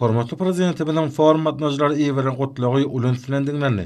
Hormatly Prezidentimiziň forum gatnaşyjylara iberen Gutlagy uly üns bilen diňlendi.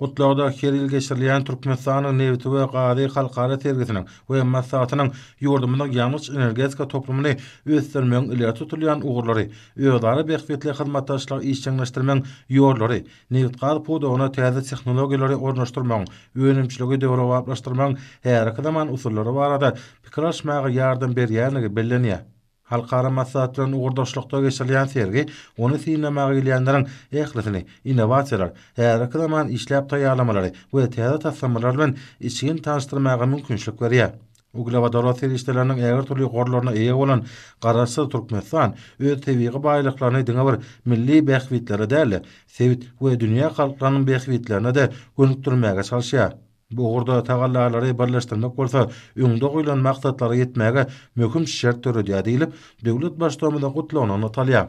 Gutlagda her ýyl geçirilýän Türkmenistanyň nebiti we gazy halkara sergisiniň we maslahatynyň ýurdumyzyň ýangyç-energetika toplumyny ösdürmegiň ileri tutulýan ugurlary, özara bähbitli hyzmatdaşlygy işjeňleşdirmegiň ýollary, nebitgaz pudagyna täze tehnologiýalary ornaşdyrmagyň, önümçiligi döwrebaplaşdyrmagyň häzirki zaman usullary barada pikir alyşmaga ýardam berýändigi bellenýär. Halkara maslahatlaryny ugurdaşlykda geçirilýän sergi ony synlamaga gelýänleriň ählisini innowasiýalar, häzirki zaman işläp taýýarlamalary we täze taslamalar bilen içgin tanyşdyrmaga mümkinçilik berýär. Uglewodorod serişdeleriniň ägirt dürli gorlaryna eýe bolan Garaşsyz Türkmenistan öz tebigy baýlyklaryny diňe bir milli bähbitlere däl-de, sebit we dünýä halklarynyň bähbitlerine-de gönükdirmäge çalyşýar. Bu ugurda tagallalary birleşdirmek bolsa öňde goýlan maksatlara ýetmäge möhüm şert döredýär diýlip, döwlet Baştutanymyzyň Gutlagynda nygtalýar.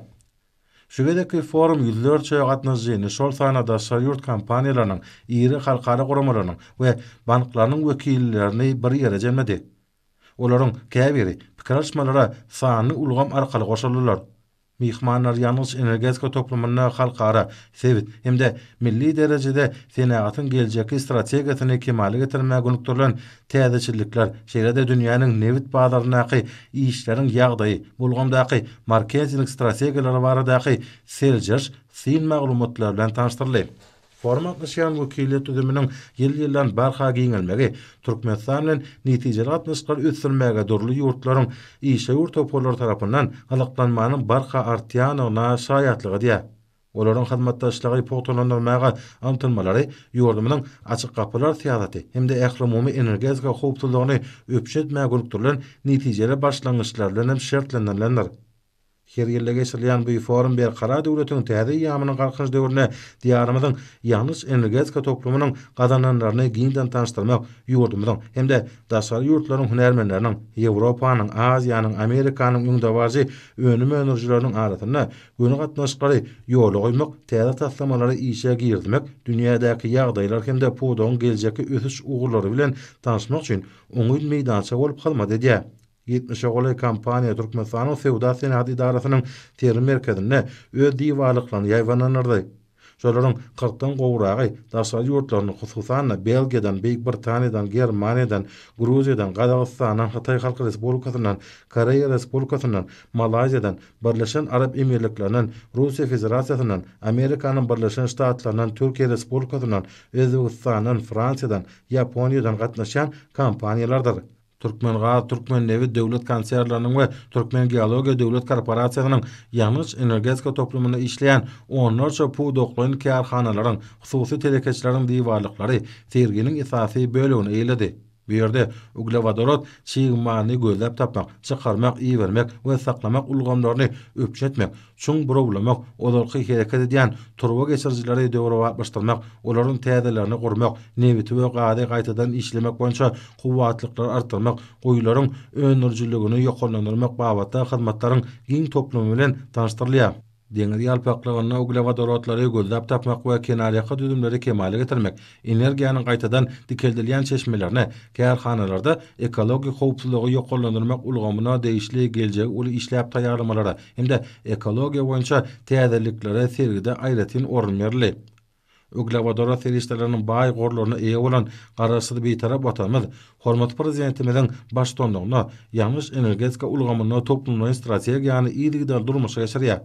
Şu gezekki forum ýüzlerçe gatnaşyjyny, şol sanda daşary ýurt kompaniýalarynyň, iri halkara guramalarynyň we banklarynyň wekillerini bir ýere jemledi. Olaryň käbiri pikir alyşmalara sanly ulgam arkaly goşuldylar. Myhmanlar ýangyç-energetika toplumynda halkara, sebit hem-de milli derejede senagatyň geljekki strategiýasyny kemala getirmäge gönükdirilen täzeçillikler, şeýle-de dünýäniň nebit bazaryndaky işleriň ýagdaýy, bu ulgamdaky marketing strategiýalary baradaky seljeriş, syn maglumatlary bilen tanyşdyryldy. Foruma gatnaşýan wekiliýet düzüminiň ýyl-ýyldan barha giňelmegi Türkmenistan bilen netijeli gatnaşyklary ösdürmäge dürli ýurtlaryň işewür toparlary tarapyndan gyzyklanmanyň barha artýandygyna şaýatlyk edýär. Olaryň hyzmatdaşlygy pugtalandyrmaga ymtylmalary ýurdumyzyň Açyk gapylar syýasaty hem-de ählumumy energetika howpsuzlygyny üpjün etmäge gönükdirilen netijeli başlangyçlar bilen hem şertlendirilendir. Her ýylda geçirilýän bu forum Berkarar döwletiň täze eýýamynyň Galkynyş döwründe Diýarymyzyň ýangyç-energetika toplumynyň gazananlaryny giňden tanyşdyrmak, ýurdumyzyň hem-de daşary ýurtlaryň hünärmenleriniň, Ýewropanyň, Aziýanyň, Amerikanyň öňdebaryjy önüm öndürijileriniň arasynda göni gatnaşyklary ýola goýmak, täze taslamalary işe girizmek, dünýädäki ýagdaýlar hem-de pudagyň geljekki ösüş ugurlary bilen tanyşmak üçin oňyn meýdança bolup hyzmat edýär. Ýetmişe golaý kompaniýa Türkmenistanyň Söwda-senagat edarasynyň sergi merkezinde öz diwarlyklaryny ýaýbaňlandyrdy. Şolaryň kyrkdan gowragy daşary ýurtlardan, hususan-da, Belgiýadan, Beýik Britaniýadan, Germaniýadan, Gruziýadan, Gazagystandan, Hytaý Halk Respublikasyndan, Koreýa Respublikasyndan, Malaýziýadan, Birleşen Arap Emirliklerinden, Russiýa Federasiýasyndan, Amerikanyň Birleşen Ştatlaryndan, Türkiýe Respublikasyndan, Özbegistandan, Fransiýadan, Ýaponiýadan gatnaşýan kompaniýalardyr. Türkmengaz, Türkmennebit döwlet konsernleriniň we Türkmengeologiýa döwlet korporasiýasynyň ýangyç-energetika toplumynda işleýän onlarça pudaklaýyn kärhanalaryň, hususy telekeçileriň diwarlyklary serginiň esasy bölegini eýeledi. Bu ýerde uglewodorod çig malyny gözläp tapmak, çykarmak, ibermek we saklamak ulgamlaryny üpjün etmek, Çuň burawlamak, ozalky hereket edýän turba geçirijileri döwrebaplaşdyrmak, olaryň täzelerini gurmak, nebiti we gazy gaýtadan işlemek boýunça kuwwatlyklary artdyrmak, guýularyň öndürijiligini ýokarlandyrmak babatda hyzmatlaryň giň toplumy bilen tanyşdyrylýar. Deňiz ýalpaklygynda uglewodorodlary gözläp tapmak we kenarýaka düzümleri kemala getirmek, energiýanyň gaýtadan dikeldilýän çeşmelerine, kärhanalarda ekologik howpsuzlygy ýokarlandyrmak ulgamyna degişli geljegi uly işläp taýýarlamalara hem-de ekologiýa boýunça täzeliklere sergide aýratyn orun berildi. Uglewodorod serişdeleriniň baý gorlaryna eýe bolan Garaşsyz Bitarap Watanymyz hormatly Prezidentimiziň baştutanlygynda ýangyç-energetika ulgamynda toplumlaýyn strategiýany yzygiderli durmuşa geçirýär.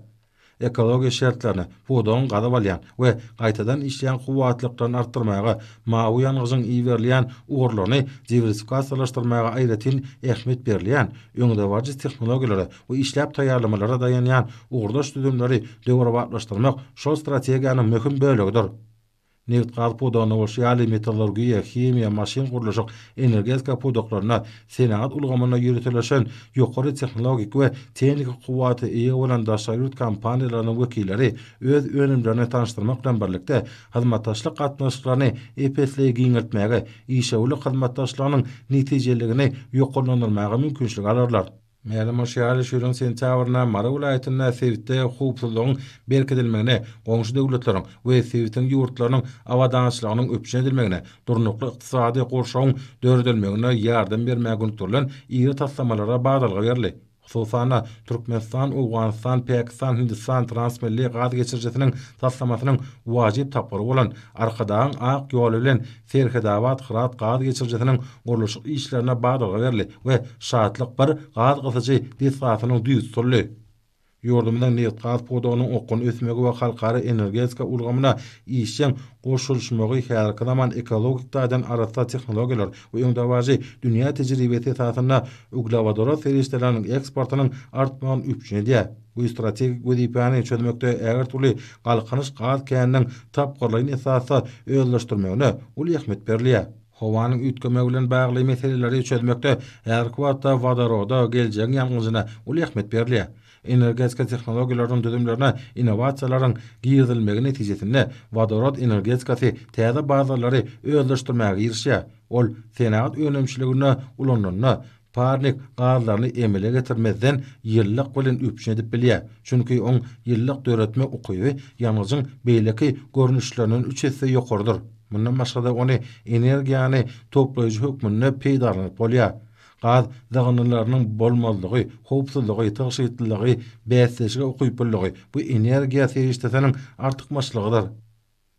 ekologiýa şertlerini, pudagyň gazyp alýan we gaýtadan işleýän kuwwatlyklaryny artdyrmaga, mawy ýangyjyň iberilýän ugurlaryny diwersifikasiýalaşdyrmaga aýratyn ähmiýet berilýän, öňdebaryjy tehnologiýalara we işläp taýýarlamalara daýanýan ugurdaş düzümleri döwrebaplaşdyrmak şol strategiýanyň möhüm bölegidir. nebitgaz pudagynda bolşy ýaly, metallurgiýa, himiýa, maşyn-gurluşyk, energetika pudaklarynda, senagat ulgamynda ýöriteleşen, ýokary tehnologik we tehniki kuwwata eýe bolan daşary ýurt kompaniýalarynyň wekilleri öz önümlerini tanyşdyrmak bilen birlikde, hyzmatdaşlyk gatnaşyklaryny ep-esli giňeltmäge, işewürlik hyzmatdaşlygynyň netijeliligini ýokarlandyrmaga mümkinçilik alarlar. Mälim bolşy ýaly, şu ýylyň sentýabrynda Mary welaýatynda sebitde howpsuzlygyň berkidilmegine, goňşy döwletleriň we sebitiň ýurtlarynyň abadançylygynyň üpjün edilmegine, durnukly ykdysady gurşawyň döredilmegine ýardam bermäge gönükdirilen iri taslamalara badalga berildi. Hususan-da, Türkmenistan, Owganystan, Pakistan, Hindistan transmilli gaz geçirijisiniň taslamasynyň wajyp tapgyry bolan Arkadagyň ak ýoly bilen Serhetabat Hyrat gaz geçirijisiniň gurluşyk işlerine badalga berli we Şatlyk I gaz gysyjy desgasynyň düýbi tutuldy. Ýurdumyzyň nebitgaz pudagynyň okgunly ösmegi we halkara energetika ulgamyna işjeň goşulyşmagy häzirki zaman ekologik taýdan arassa tehnologiýalar we öňdebaryjy dünýä tejribesi esasynda uglewodorod serişdeleriniň eksportynyň artmagyny üpjün edýär. Bu strategik wezipäni çözmekde ägirt uly Galkynyş gaz käniniň tapgyrlaýyn esasda özleşdirmegine uly ähmiýet berilýär. Howanyň üýtgemegi bilen bagly meseleleri çözmekde häzirki wagtda wodoroda, geljegiň ýangyjyna uly ähmiýet berilýär. Energetika tehnologiýalarynyň düzümlerine innowasiýalaryň girizilmegi netijesinde wodorod energetikasy täze bazarlary özleşdirmäge girişýär, ol senagat önümçiliginde ulanylanda, Parnik gazlaryny emele getirmezden ýylylyk bilen üpjün edip bilýär, çünki oň ýylylyk döretme ukyby ýangyjyň beýleki görnüşlerinden üç esse ýokarydyr. Mundan başga-da ony energiýany toplaýjy hökmünde peýdalanyp bolýar. Gaz dygyndylarynyň bolmazlygy, howpsuzlygy, tygşytlylygy, bäsdeşlige ukyplylygy bu energiýa serişdesiniň artykmaçlygydyr.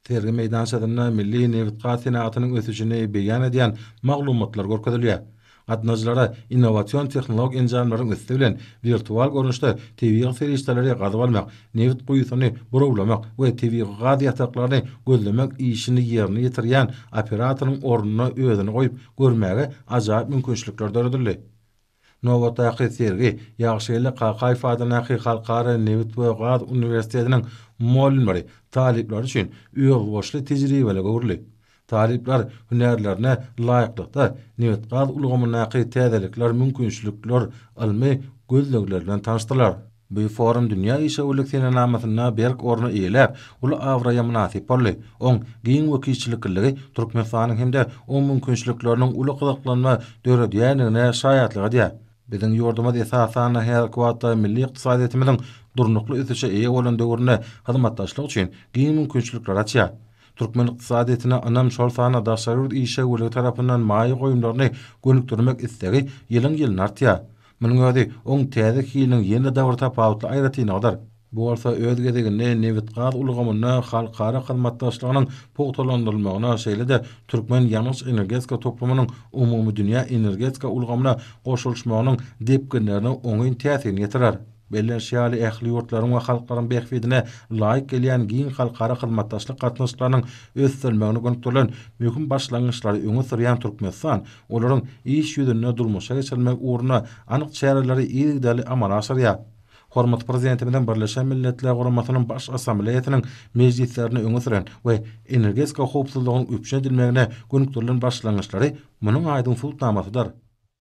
Sergi meýdançasynda milli nebitgaz senagatynyň ösüşini beýan edýän maglumatlar görkezilýär. Gatnaýjylara innowasion tehnologik enjamlaryň üsti bilen wirtual görnüşde tebigy serişdeleri gazyp almak, nebit guýusyny burawlamak we tebigy gaz ýataklaryny gözlemek işini ýerine ýetirýän operatoryň ornuna özüni goýup görmäge ajaýyp mümkinçilikler döredildi. Nobatdaky sergi Ýagşygeldi Kakaýew adyndaky Halkara nebit we gaz uniwersitetiniň mugallymlary, talyplary üçin özboluşly tejribelige öwrüldi. Talyplar hünärlerine laýyklykda, nebit-gaz ulgamyndaky täzelikler, mümkinçilikler, ylmy gözlegler bilen tanyşdylar. Bu forum dünýä işewürlik senenamasynda berk orny eýeläp, uly abraýa mynasyp boldy. Oň giň wekilçilikliligi Türkmenistanyň hem-de oň mümkinçilikleriniň uly gyzyklanma döredýändigine şaýatlyk edýär. Biziň ýurdumyz, esasan-da, häzirki wagtda milli ykdysadyýetimiziň durnukly ösüşe eýe bolan döwründe hyzmatdaşlyk üçin giň mümkinçilikleri açýar. Türkmen ykdysadyýetine ynam, şol sanda daşary ýurt işewürligi tarapyndan maýa goýumlaryny gönükdirmek islegi ýylyň-ýylyna artýar. Munuň özi oň täze hiliniň ýene-de dabr tapawutly aýratynlygydyr. Bu bolsa öz gezeginde nebit-gaz ulgamynda halkara hyzmatdaşlygynyň pugtalandyrylmagyna, şeýle-de türkmen ýangyç-energetika toplumynyň umumydünýä energetika ulgamyna goşulyşmagynyň depginlerine oňyn täsirini ýetirer. Bellenişi ýaly, ähli ýurtlaryň we halklaryň bähbidine laýyk gelýän giň halkara hyzmatdaşlyk gatnaşyklarynyň ösdürilmegine gönükdirilen möhüm başlangyçlary öňe sürýän Türkmenistan, olaryň iş ýüzünde durmuşa geçirilmegi ugrunda anyk çäreleri yzygiderli amala aşyrýar. Hormatly Prezidentimiziň Birleşen Milletler Guramasynyň Baş Assambleýasynyň mejlislerinde öňe süren we energetika howpsuzlygynyň üpjün edilmegine gönükdirilen başlangyçlary munuň aýdyň subutnamasydyr.